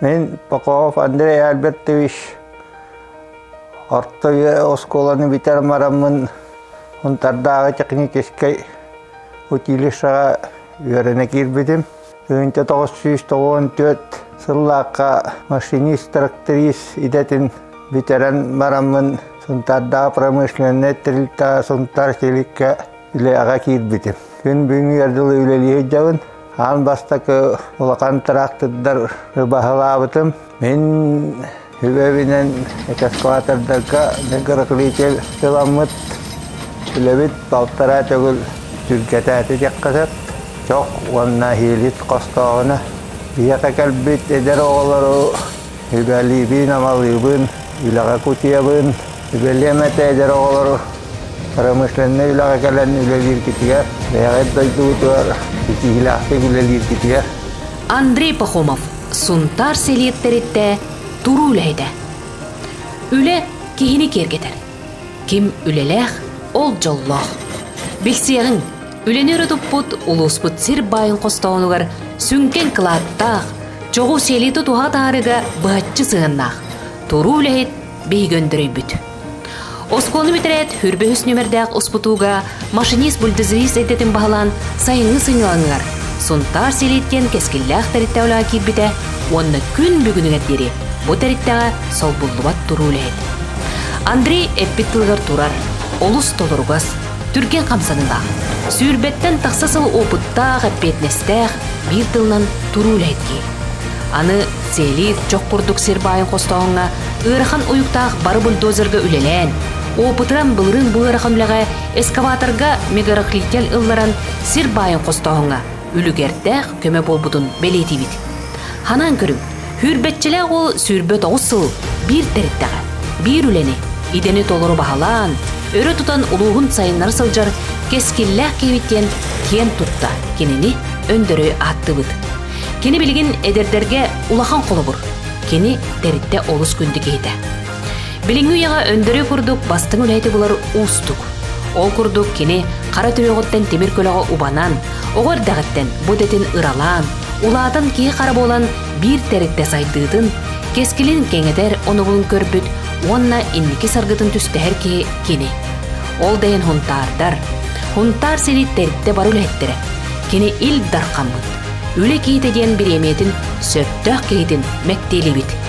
Мин Попов Андрей Альбертович орто оскуоланы бүтэр мараммын Унтардааҕы техническэй училищеҕа үөрэнэ киирбитим. Тыһыынча тоҕус сүүс тоҕуон түөрт сыллаахха машинист-тракторист идэтин бүтэрэн мараммын Сунтардағы промышленнай тэрилтэҕэ Сунтар Силиккэ үлэҕэ киирбитим. Күн бүгүҥҥү өр дылы үлэлии сылдьабын. Аан бастакы улахан трактордар ыбаһылаабытым. Мин Үбэбинэн экскаватордарга микроклитил ыламмыт. Үлэбит балтараа төгүл түргэтээти диэххэ сөп. Чох уонна иилит хостооҕуна. Ийэтэ кэлбит эдэр оҕолору үбэлиибин, амалыыбын, үлэҕэ кутуйабын. Сүбэлиэм этэ эдэр оҕолору промышленнай үлэҕэ кэлэн үлэлииргитигэр, бэйэҕит дойдугутугар ситиһиилээхтик үлэлииргитигэр. Андрей Пахомов Сунтаар сэлиэттэриттэ туруу үлэһитэ. Үлэ киһини киэргэтэр. Ким үлэлээх, ол дьоллоох. Билсиэҕиҥ, үлэни өрө туппут улууспут сир баайын хостоонугар сүҥкэн кылааттаах, чоҕу сиэлии тутуһа атаарыыга быһаччы сыһыаннаах, туруу үлэһит биһиги өндөрөйбүт. Оскуола бүтэрээт, үрбэ үһүс нүөмэрдээх успутууга машинист-бульдозерист эйдэтин баһылаан сайыҥҥы сынньалаҥыгар Сунтаар Селиткиэн кэскиллээх тэрилтэ улаан киирбитэ уонна күн бүгүнүгэр диэри бу тэрилтэҕэ солбуллубат туруу үлэһит. Андрей эппит тылыгар турар, олус толоругас, түргэн хамсаныылаах, сүүрбэттэн тахса сыл опыттаах, эппиэтинэстээх, биир тылынан туруу үлэһиттии. Аны сиэлиит чох курдук сир баайын хостооһуҥҥа ыарахан уйуктаах бары бульдозерга үлэлээн, опытыран былырыын бу ыарахан үлэҕэ эскаваторга мегарохлитель ылларан сир баайын хостооһуҥҥа үлүгэрдээх көмө буолбутун бэлиэтиибит. Ханаан көрүҥ, Хүрбэччэлээх уол сүүрбэт оҕус сыл биир тэриттэҕэ, биир үлэни, идэни толору баһылаан, өрө тутан улууһун сайыннара сылдьар кэскиллээх киһибит диэн киэн тутта кинини өндөрөй ааттыыбыт. Кини билигин эдэрдэргэ улахан холобур. Кини тэрилтэ олус күндү киһитэ. Билиҥҥи үйэҕэ өндөрүү курдук бастыҥ үлэһити булар уустук. Ол курдук кини хара түрүөҕүттэн тимир көлөҕө убанан, оҕо эрдэҕиттэн бу идэтин ыралаан, улаатан киһи хара буолан биир тэрилтэ сайдыытын, кэскилин кэҥэтэр онобулун көрбүт уонна инники саргытын түстэһэр киһи кини. Ол да иһин хунтаардар, хунтаар сири тэрилтэ бары үлэһиттэрэ, кини Ил Дархаммыт, Үлэ киһитэ диэн бириэмийэтин сөптөөх киһитин мэктиэлиибит.